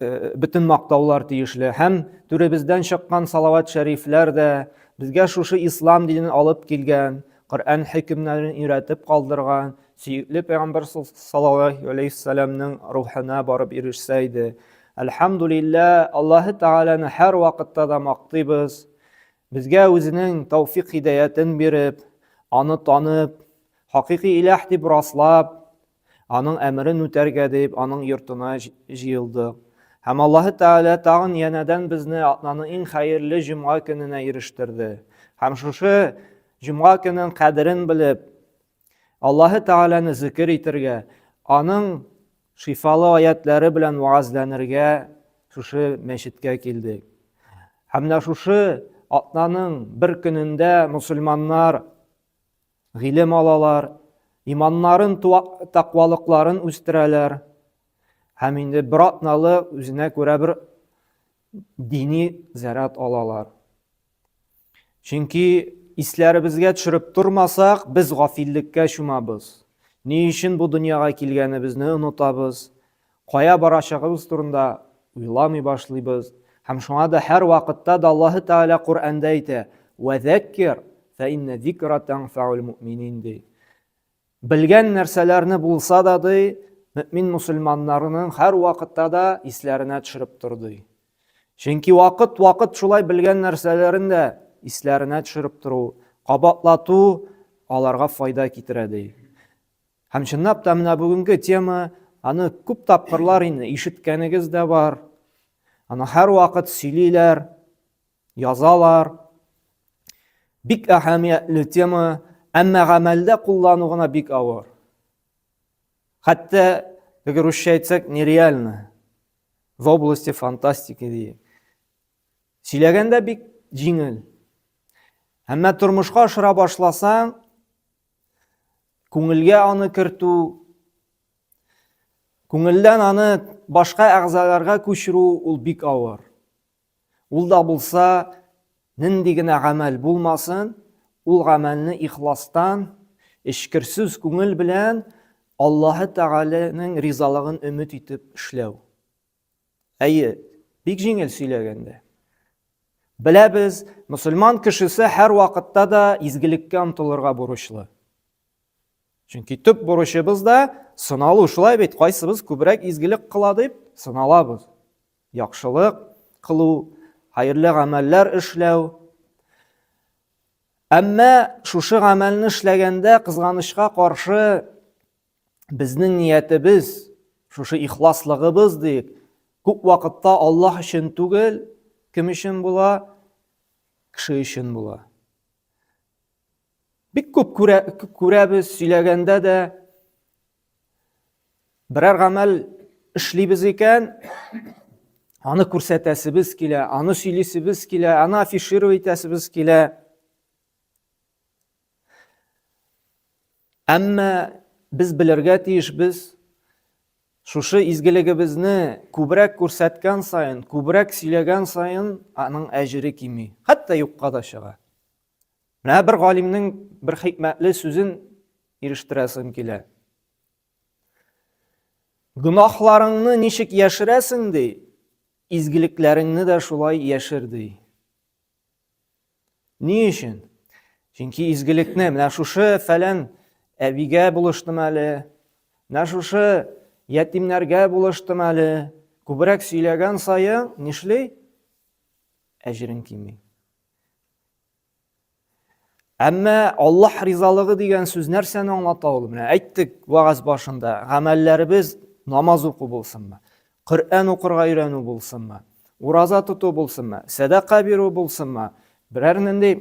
Э, бөтен мактаулар тиешле һәм түребездән чыккан салават шәрифләр дә безгә шушы ислам динен алып килгән коръән хөкемнәрен өйрәтеп калдырган сөекле пәйгамбәр саллаллаху алейхи вассаламның рухына барып ирешсә иде әлхәмдулилла аллаһы тәгаләне һәр вакытта да мактыйбыз безгә үзенең тәүфик хидаятын биреп аны танып хакыйкый иләһ дип раслап Аның әмерен үтәргә дип, аның йортына җыелдык. Һәм Аллаһы Тәгалә тагын янәдән безне атнаның иң хәерле җомга көненә ирештерде. Һәм шушы җомга көнен кадерен белеп, Аллаһы Тәгаләне зикер итәргә, аның шифалы аятлары белән вәгазьләнергә шушы мәчеткә килдек. Һәм менә шушы атнаның бер көнендә мусульманнар Гыйлем алалар, иманнарын, таквалыкларын үстерәләр. Һәм инде бер атналы үзенә күрә бер дини заряд алалар. Чөнки исләребезгә төшереп тормасак, без гафиллеккә чумабыз. Ни өчен бу дөньяга килгәнебезне онытабыз. Кая барачагыбыз турында уйламый башлыйбыз, һәм шуңа да һәрвакытта да Аллаһы Тәгалә Коръәндә әйтә, Вәзәккир, фә иннә зикра тәнфәул мөэминин, ди. Белгән нәрсәләрне булса да, ди, мөэмин мөселманнарның һәрвакытта да исләренә төшереп тор, ди. Чөнки вакыт-вакыт шулай белгән нәрсәләрен дә исләренә төшереп тору, кабатлату аларга файда китерә, ди. Һәм чынлап та менә бүгенге тема, аны күп тапкырлар инде ишеткәнегез дә бар. Аны һәрвакыт сөйлиләр, язалар. Бик әһәмиятле тема, әмма гамәлдә куллану гына бик авыр. Хәтта, әгәр русча әйтсәк, нереально. В области фантастики ди. Сөйләгәндә бик җиңел. Әмма тормышка ашыра башласаң, Күңелгә аны кертү, күңелдән аны башка әгъзаларга күчерү ул бик авыр. Ул да булса, нинди генә гамәл булмасын, ул гамәлне ихластан, эчкерсез күңел белән Аллаһы Тәгаләнең ризалыгын өмет итеп эшләү. Әйе, бик җиңел сөйләгәндә. Беләбез, мөселман кешесе һәр вакытта да изгелеккә омтылырга бурычлы. Чөнки төп бурычыбыз да сыналу, шулай бит, кайсыбыз күбрәк изгелек кыла дип сыналабыз. Яхшылык кылу, хәерле гамәлләр эшләү. Әмма шушы гамәлне эшләгәндә кызганычка каршы Безнең ниятебез, шушы ихласлыгыбыз дип, күп вакытта Аллаһ өчен түгел, кем өчен була? Кеше өчен була. Бик күп күрә, күрәбез, сөйләгәндә дә берәр гамәл эшлибез икән, аны күрсәтәсебез килә, аны сөйлисебез килә, аны афишировать итәсебез килә. Әмма без белергә тиеш без шушы изгелегебезне күбрәк күрсәткән сайын, күбрәк сөйләгән сайын аның әҗере кими, хәтта юкка да чыга. Менә бер галимнең бер хикмәтле сүзен ирештерәсем килә. Гөнаһларыңны ничек яшерәсең ди, изгелекләреңне дә шулай яшер ди. Ни өчен? Чөнки изгелекне менә шушы фәлән әбигә булыштым әле, менә шушы ятимнәргә булыштым әле. Күбрәк сөйләгән саен нишли? Әҗерен кими. Әмма Аллаһ ризалыгы дигән сүз нәрсәне аңлата ул? Менә әйттек вагаз башында, гамәлләребез намаз уку булсынмы? Коръән укырга өйрәнү булсынмы, ураза тоту булсынмы, сәдака бирү булсынмы, берәр нинди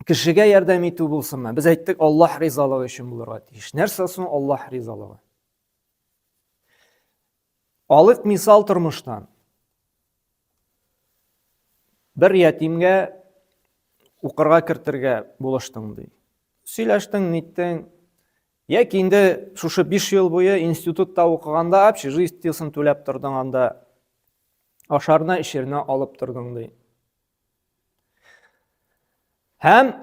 кешегә ярдәм итү булсынмы? Без әйттек, Аллаһ ризалыгы өчен булырга тиеш. Нәрсә соң Аллаһ ризалыгы? Алык мисал тормыштан. Бер ятимгә укырга кертергә булыштың ди. Сөйләштең, ниттең, Яки инде шушы биш ел буе институтта укыганда общежитиесын түләп тордың анда, ашарына эчеренә алып тордың ди. Һәм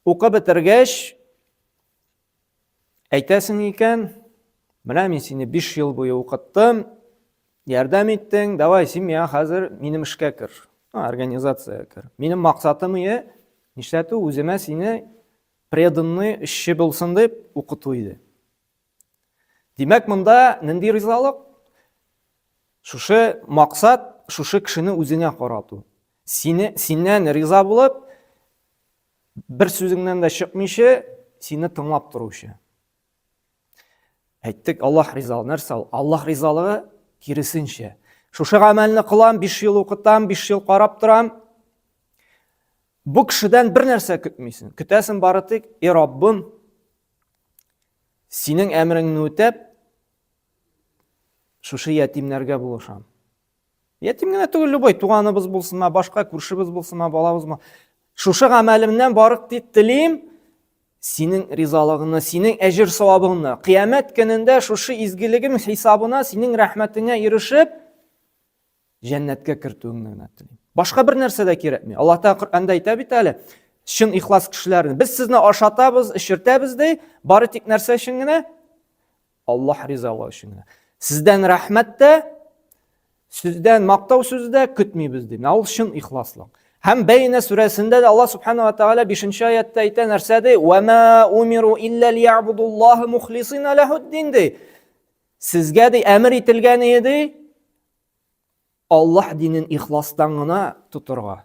укып бетергәч әйтәсең икән, менә мин сине биш ел буе укыттым, Ярдәм иттең, давай, син миңа хәзер минем эшкә кер. Организация кер. Минем максатым ие, нишләтү үземә сине преданный эшче булсын дип укыту иде. Димәк, монда нинди ризалык? Шушы максат, шушы кешене үзеңә карату. Сине, синнән риза булып, бер сүзеңнән дә чыкмыйча, сине тыңлап торучы. Әйттек, Аллаһ ризалы. Нәрсә ул? Аллаһ ризалыгы киресенчә. Шушы гамәлне кылам, 5 ел укытам, 5 ел карап торам. Бу кешедән бер нәрсә көтмисең. Көтәсең бары тик, "И Раббым, синең әмереңне үтәп, шушы ятимнәргә булышам. Ятим генә түгел, любой туганыбыз булсынмы, башка күршебез булсынмы, балабызмы. Шушы гамәлемнән барып тип телим, синең ризалыгыңны, синең әҗер савабыңны. Кыямәт көнендә шушы изгелегем хисабына синең рәхмәтеңә ирешеп, җәннәткә кертүеңне генә телим. Башка бер нәрсә дә кирәкми. Аллаһ Тәгалә Коръәндә әйтә бит әле, чын ихлас кешеләрне. Без сезне ашатабыз, эчертәбез ди, бары тик нәрсә өчен генә? Аллаһ ризалыгы өчен генә. Сездән рәхмәт тә, сездән мактау сүзе дә көтмибез ди. Менә ул чын ихласлык. Һәм Бәйнә сүрәсендә дә Аллаһ субхана ва тагала 5-нче аятта әйтә нәрсә ди? Ва ма умиру илля лиябудуллаһи мухлисина лахуддин ди. Сезгә ди әмер ителгән иде Аллаһ динен ихластан гына тотырга.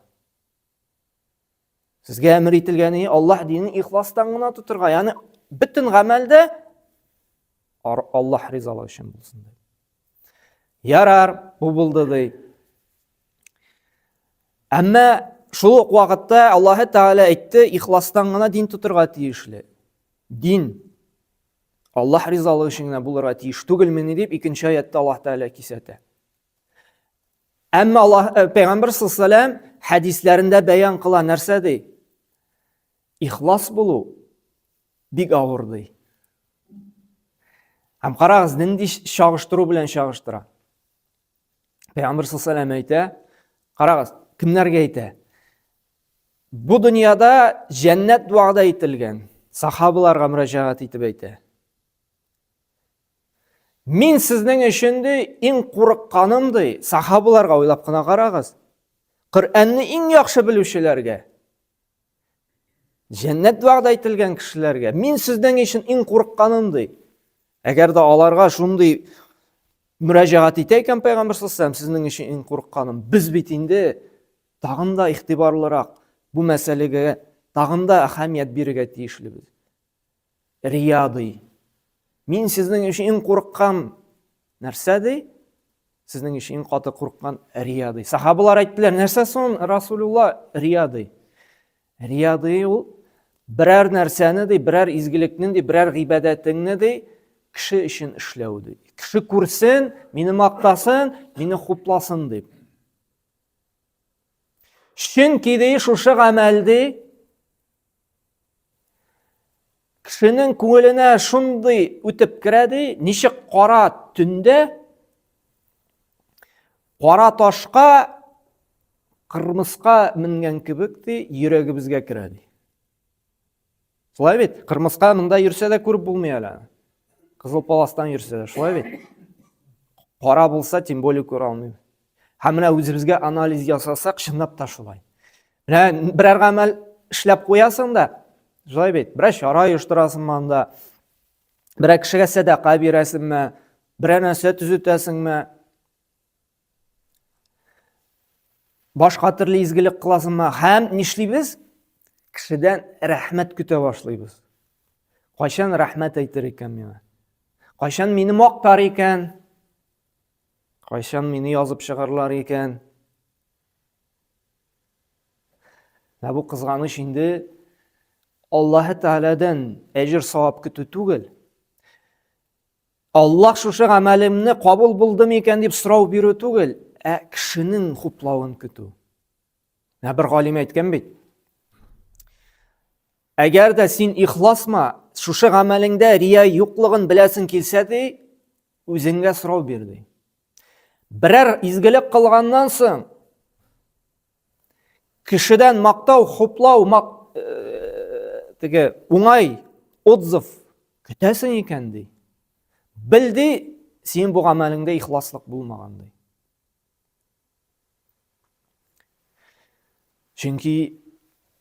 Сезгә әмер ителгәне Аллаһ динен ихластан гына тотырга, ягъни бөтен гамәлдә Аллаһ ризалыгы өчен булсын ди. Ярар, бу булды ди. Әмма шул ук вакытта Аллаһ Тәгалә әйтте, ихластан гына дин тотырга тиешле. Дин Аллаһ ризалыгы өчен генә булырга тиеш түгелмени дип икенче аятта Аллаһ Тәгалә кисәтә. Әмма Аллаһ э, пәйгамбер саллаллаһу алейһи хәдисләрендә бәян кыла нәрсә ди? Ихлас булу бик авыр ди. Һәм карагыз, нинди чагыштыру белән чагыштыра. Пәйгамбер саллаллаһу алейһи әйтә, карагыз, кемнәргә әйтә? Бу дөньяда җәннәт вәгъдә ителгән сахабаларга мөрәҗәгать итеп әйтә. Мин сезнең өчен ди иң курыкканым ди, сахабаларга уйлап кына карагыз. Коръәнне иң яхшы белүчеләргә, җәннәт вәгъдә ителгән кешеләргә, мин сезнең өчен иң курыкканым ди. Әгәр дә аларга шундый мөрәҗәгать итә икән пәйгамбер саллаллаху сезнең өчен иң курыкканым. Без бит инде тагын да игътибарлырак бу мәсьәләгә тагын да әһәмият бирергә тиешлебез. Рия ди. Мин сезнең өчен иң курыккан нәрсә ди? Сезнең өчен иң каты курыккан рия ди. Сахабалар әйттеләр, нәрсә соң Расулулла рия ди? Рия ди ул берәр нәрсәне ди, берәр изгелекне ди, берәр гыйбадәтеңне ди, кеше өчен эшләү ди. Кеше күрсен, мине мактасын, мине хупласын дип. Чөнки ди шушы гамәл ди Кешенең күңеленә шундый үтеп керә ди, ничек кара төндә кара ташка кырмыска менгән кебек ди, йөрәгебезгә керә ди. Шулай бит, кырмыска монда йөрсә дә күреп булмый әле. Кызыл паластан йөрсә дә, шулай бит. Кара булса, тем более күрә алмый. Һәм менә үзебезгә анализ ясасак, чынлап та шулай. Менә берәр гамәл эшләп куясың да, шулай бит, берәр чара оештырасыңмы анда, берәр кешегә сәдака бирәсеңме, берәр нәрсә төзетәсеңме, башка төрле изгелек кыласыңмы һәм нишлибез? Кешедән рәхмәт көтә башлыйбыз. Кайчан рәхмәт әйтер икән миңа? Кайчан мине мактар икән? Кайчан мине язып чыгарлар икән? Менә бу кызганыч инде Аллаһы Тәгаләдән әҗер савап көтү түгел. Аллаһ шушы гамәлемне кабул булдымы икән дип сорау бирү түгел, ә кешенең хуплавын көтү. Менә бер галим әйткән бит. Әгәр дә син ихласма, шушы гамәлеңдә рия юклыгын беләсең килсә ди, Үзеңгә сорау бир ди. Берәр изгелек кылганнан соң кешедән мактау, хуплау, мак... Э, теге уңай отзыв көтәсең икән ди. Бел ди, син бу гамәлеңдә ихласлык булмаган ди. Чөнки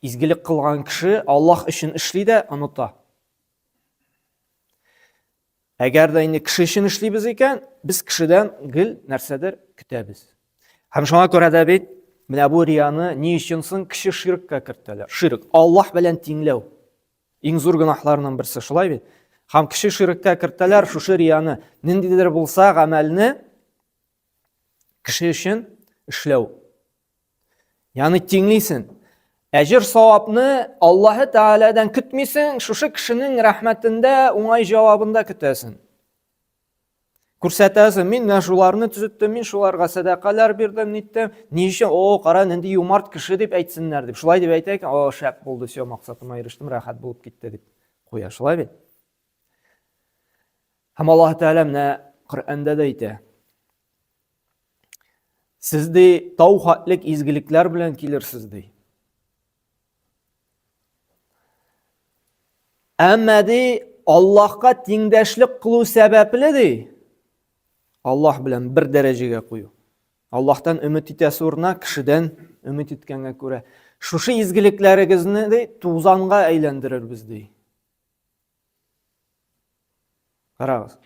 изгелек кылган кеше Аллаһ өчен эшли дә оныта. Әгәр дә инде кеше өчен эшлибез икән, без кешедән гел нәрсәдер көтәбез. Һәм шуңа күрә дә бит менә бу рияны ни өчен соң кеше ширккә кертәләр? Ширк, Аллаһ белән тиңләү. Иң зур гөнаһларның берсе, шулай бит? Һәм кеше ширккә кертәләр шушы рияны, ниндидер булса гамәлне кеше өчен эшләү. Яны тиңлисен. Әҗер савапны Аллаһы Тәгаләдән көтмисен, шушы кешенең рәхмәтендә уңай җавабында көтәсен. Күрсәтәсен, мин менә шуларны төзеттем, мин шуларга сәдакалар бирдем, ниттем. Ни өчен? О, кара, нинди юмарт кеше дип әйтсеннәр дип. Шулай дип әйтә икән, о, шәп булды, все, максатыма ирештем, рәхәт булып китте дип куя. Шулай бит? Һәм Аллаһ Тәгалә менә Коръәндә дә әйтә. Сез ди тау хатлек изгелекләр белән килерсез ди. Әмма ди Аллаһка тиңдәшлек кылу сәбәпле ди. Аллаһ белән бер дәрәҗәгә кую. Аллаһтан өмет итәсе урына кешедән өмет иткәнгә күрә, шушы изгелекләрегезне ди тузанга әйләндерербез ди. Карагыз.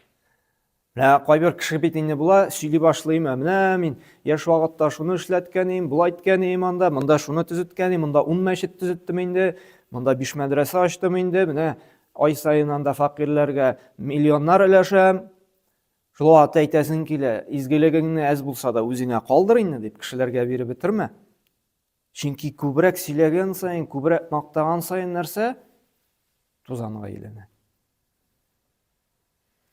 Менә кайбер кеше бит инде була, сөйли башлыйм, ә менә мин яшь вакытта шуны эшләткән идем, була иткән идем анда, монда шуны төзеткән идем, монда 10 мәчет төзеттем инде, монда 5 мәдрәсә ачтым инде, менә ай саен анда факирләргә миллионнар өләшәм. Шул вакытта әйтәсең килә, изгелегеңне әз булса да үзеңә калдыр инде дип кешеләргә биреп бетермә. Чөнки күбрәк сөйләгән саен, күбрәк мактаган саен нәрсә? Тузанга әйләнә.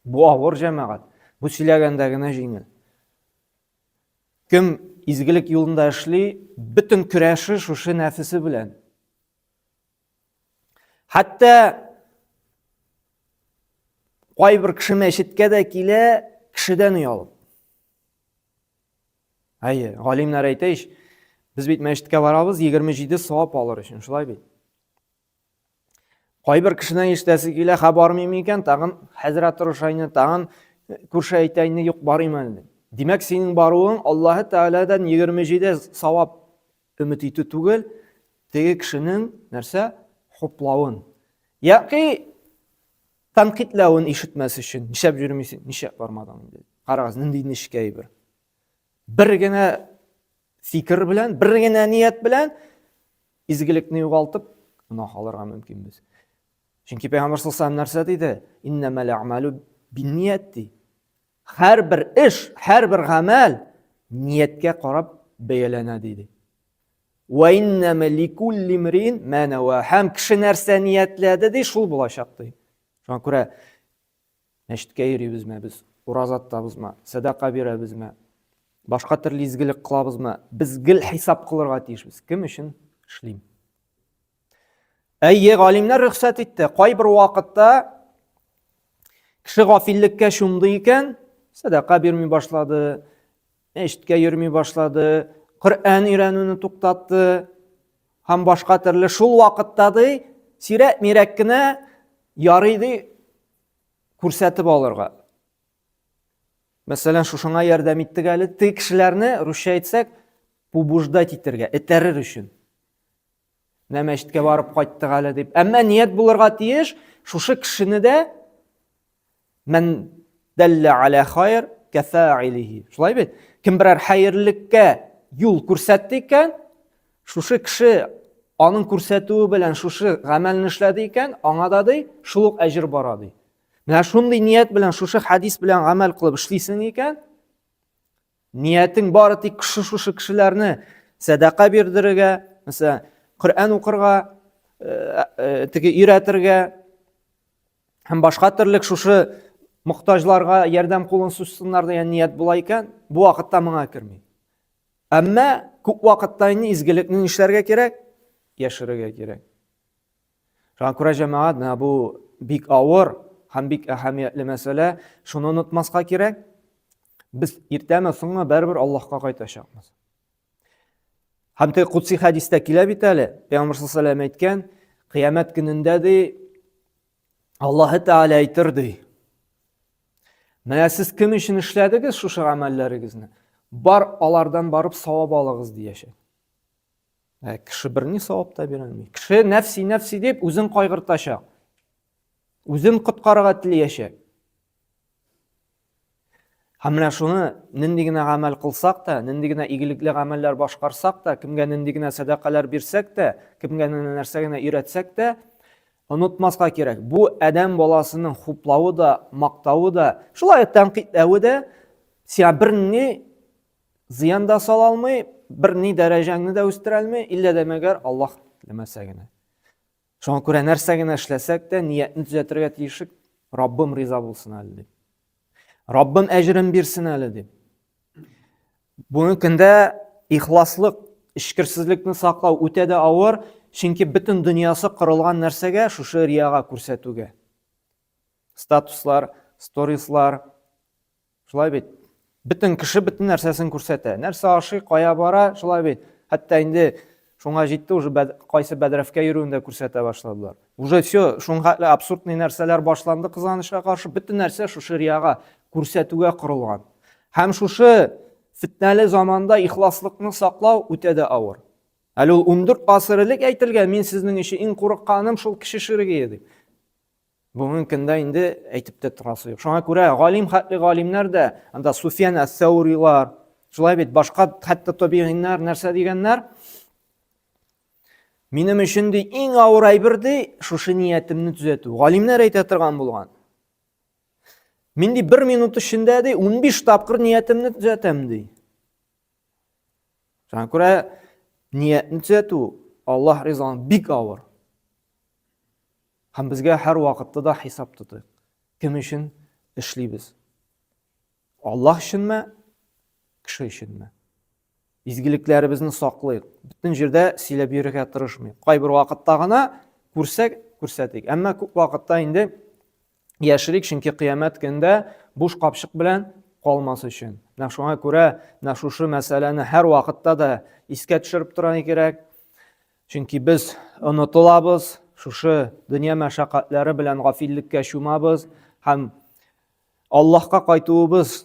Бу авыр җәмәгать. Бу сөйләгәндә генә җиңел. Кем изгелек юлында эшли, бөтен көрәше шушы нәфесе белән. Хәтта кайбер кеше мәчеткә дә килә, кешедән оялып. Әйе, галимнәр әйтә ич, без бит мәчеткә барабыз 27 савап алыр өчен, шулай бит. Кайбер кешенең иштәсе килә, ха бармыйм икән, тагын хәзрәт Рушайны, тагын күрше әйтәйне юк барыйм әле. Димәк, синең баруың Аллаһы Тәгаләдән 27 савап өмет итү түгел, теге кешенең нәрсә хуплавын. Яки Тәнкыйтьләвен ишетмәс өчен, нишләп йөрмисең, нишләп бармадың инде? Карагыз, нинди нечкә бер. Бер генә фикер белән, бер генә ният белән изгелекне югалтып, гына алырга мөмкин без. Чөнки Пәйгамбәр саллаллаху нәрсә диде? Иннамал амалу бинният ди. Һәрбер эш, һәрбер гамәл нияткә карап бәяләнә диде. Ва иннама ликулли мрин ма нава. Һәм кеше нәрсә ниятләде ди, шул булачак ди. Шуңа күрә мәчеткә йөрибезме без, ураза тотабызмы, сәдака бирәбезме, башка төрле изгелек кылабызмы, без гел хисап кылырга тиешбез. Кем өчен эшлим? Әйе, галимнәр рөхсәт итте. Кайбер вакытта кеше гафиллеккә чумды икән, сәдака бирми башлады, мәчеткә йөрми башлады, Коръән өйрәнүне туктатты һәм башка төрле шул вакытта ди, сирәк мирәк кенә ярый ди күрсәтеп алырга. Мәсәлән, шушыңа ярдәм иттек әле, теге кешеләрне русча әйтсәк, побуждать итәргә, этәрер өчен. Менә мәчеткә барып кайттык әле дип. Әмма ният булырга тиеш, шушы кешене дә мән дәллә аля хайр кафаилихи. Шулай бит? Кем берәр хәерлелеккә юл күрсәтте икән, шушы кеше аның күрсәтүе белән шушы гамәлне эшләде икән, аңа да ди, шул ук әҗер бара ди. Менә шундый ният белән шушы хадис белән гамәл кылып эшлисең икән, Ниятең бары тик шушы кешеләрне сәдака бирдерергә, мәсәлән, Коръән укырга, э, э, теге өйрәтергә һәм башка төрле шушы мохтаҗларга ярдәм кулын сузсыннар дигән ният була икән, бу вакытта моңа керми. Әмма күп вакытта инде изгелекне нишләргә кирәк? Яшерергә кирәк. Шуңа күрә, җәмәгать, менә бу бик авыр һәм бик әһәмиятле мәсьәлә. Шуны онытмаска кирәк. Без иртәме, соңмы барыбер Аллаһка кайтачакбыз. Һәм теге кутси хәдистә килә бит әле, Пәйгамбер саллаллаһу алейһи ва әйткән, кыямәт көнендә ди Аллаһы Тәгалә әйтер ди. Менә сез кем өчен эшләдегез шушы гамәлләрегезне? Бар алардан барып савап алыгыз дияшә. Ә кеше бер ни савап та бирә алмый. Кеше нәфси нәфси дип үзен кайгыртачак. Үзен коткарырга теләячәк. Һәм менә шуны нинди генә гамәл кылсак та, нинди генә игелекле гамәлләр башкарсак та, кемгә нинди генә сәдакалар бирсәк тә, кемгә генә нәрсә генә өйрәтсәк тә, онытмаска кирәк. Бу адәм баласының хуплавы да, мактавы да, шулай тәнкыйтьләве дә сиңа берни зыян да сала алмый, бер ни дәрәҗәңне дә үстерә алмый, иллә дә мәгәр Аллаһ теләмәсә генә. Шуңа күрә нәрсә генә эшләсәк тә, ниятне төзәтергә тиешек, Раббым риза булсын әле дип. Раббым әҗерен бирсен әле дип. Бүгенге көндә ихласлык, эчкерсезлекне саклау үтә дә авыр, чөнки бөтен дөньясы корылган нәрсәгә, шушы рияга күрсәтүгә. Статуслар, сторислар, Шулай бит. Бөтен кеше бөтен нәрсәсен күрсәтә. Нәрсә ашый, кая бара, шулай бит. Хәтта инде шуңа җитте уже кайсы бәдрәфкә йөрүен дә күрсәтә башладылар. Уже все, шуңа абсурдный нәрсәләр башланды кызганычка каршы, бөтен нәрсә шушы рияга, күрсәтүгә корылган. Һәм шушы фитнәле заманда ихласлыкны саклау үтә дә авыр. Әле ул 14 гасыр элек әйтелгән, мин сезнең өчен иң курыкканым шул кеше ширегие дип. Бүгенге көндә инде әйтеп тә торасы юк. Шуңа күрә галим хәтле галимнәр дә, анда Суфиян әс-Сәүрилар, шулай бит башка хәтта табигиннар нәрсә дигәннәр? Минем өчен ди иң авыр әйбер ди шушы ниятемне төзәтү. Галимнәр әйтә торган булган. Мин ди бер минут эчендә ди 15 тапкыр ниятемне төзәтәм ди. Шуңа күрә ниятне төзәтү Аллаһ ризалыгы бик авыр. Һәм безгә һәр вакытта да хисап тотыйк. Кем өчен эшлибез? Аллаһ өченме, кеше өченме? Изгелекләребезне саклыйк. Бөтен җирдә сөйләп йөрергә тырышмыйк. Кайбер вакытта гына күрсәк, күрсәтик. Әмма күп вакытта инде яшерик, чөнки кыямәт көндә буш капчык белән калмас өчен. Менә шуңа күрә менә шушы мәсьәләне һәр вакытта да искә төшереп торырга кирәк. Чөнки без онытылабыз, шушы дөнья мәшәкатьләре белән гафиллеккә чумабыз һәм Аллаһка кайтуыбыз